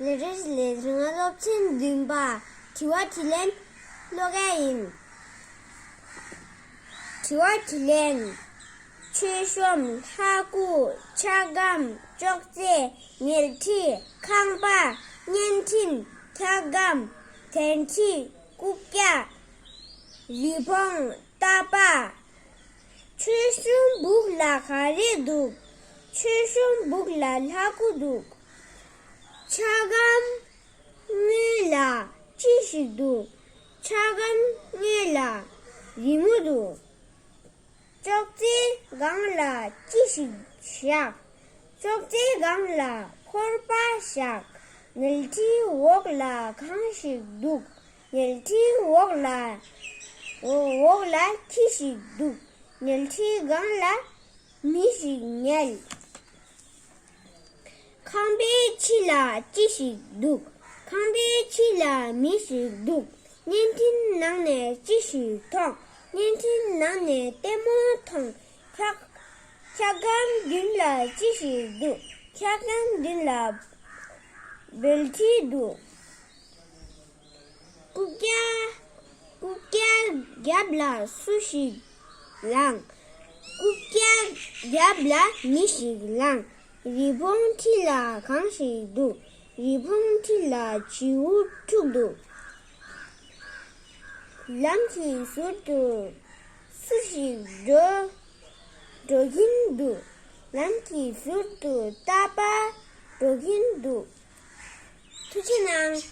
ལས་རེས་ལས་རིང་སློབ་ཚན་བདུན་པ་དྲི་བ་དྲིས་ལན་ཀློག་མཁན་ཡིན། དྲི་བ་དྲིས་ལན། མཆོད་གཤོམ་ལྷ་སྐུ་ཆ་སྒམ་ཅོག་ཙེ་ཉལ་ཁྲི་ཁང་པ་བརྙན་འཕྲིན་འཁྱག་སྒམ་དལ་འཁྲི་སྐུ་སྐྱ་རི་བོང་རྟ་པགས། མཆོད་གཤོམ་སྦུག་ལ་ག་རེ་འདུག་མཆོད་གཤོམ་སྦུག་ལ་ལྷ་སྐུ་འདུག། ཆ་སྒམ་ལྔའི་ལ་ཅི་ཞིག་འདུག། ཆ་སྒམ་ལྔའི་ལ་རི་མོ་འདུག། ཅོག་ཙེའི་སྒང་ལ་ཅི་ཞིག་བཞག། ཅོག་ཙེའི་སྒང་ལ་ཕོར་པ་བཞག། ཉལ་ཁྲིའི་འོག་ལ་གང་ཞིག་འདུག། ཉལ་ཁྲིའི་འོག་ལ་འོག་ལ་ཁྱི་ཞིག་འདུག། ཉལ་ཁྲིའི་སྒང་ལ་མི་ཞིག་ཉལ། ཁང་པའི་ཕྱི་ལ་ཅི་ཞིག་འདུག་ཁང་པའི་ཕྱི་ལ་མི་ཞིག་འདུག་བརྙན་འཕྲིན་ནང་ནས་ཅི་ཞིག་མཐོང་བརྙན་འཕྲིན་ནང་ནས་ལྟད་མོ་མཐོང། འཁྱགས་སྒམ་མདུན་ལ་ཅི་ཞིག་འདུག་འཁྱགས་སྒམ་མདུན་ལ་སྦེལ་ཁྲི་འདུག། ཀུག་ཀྱལ་ཀུག་ཀྱལ་རྒྱབ་ལ་སུ་ཞིག་ལངས། ཀུག་ཀྱལ་རྒྱབ་ལ་མི་ཞིག་ལངས། རི་བོང་མཐིལ་ལ་གང་ཞིག་འདུག། རི་བོང་མཐིལ་ལ་བྱིའུ་ཕྲུག་འདུག། ལམ་གྱི་ཟུར་དུ་སུ་ཞིག་འགྲོ་འགྲོ་གིན་འདུག། ལམ་གྱི་ཟུར་དུ་རྟ་པ་འགྲོ་གིན་འདུག། ཐུགས་རྗེ་གནང།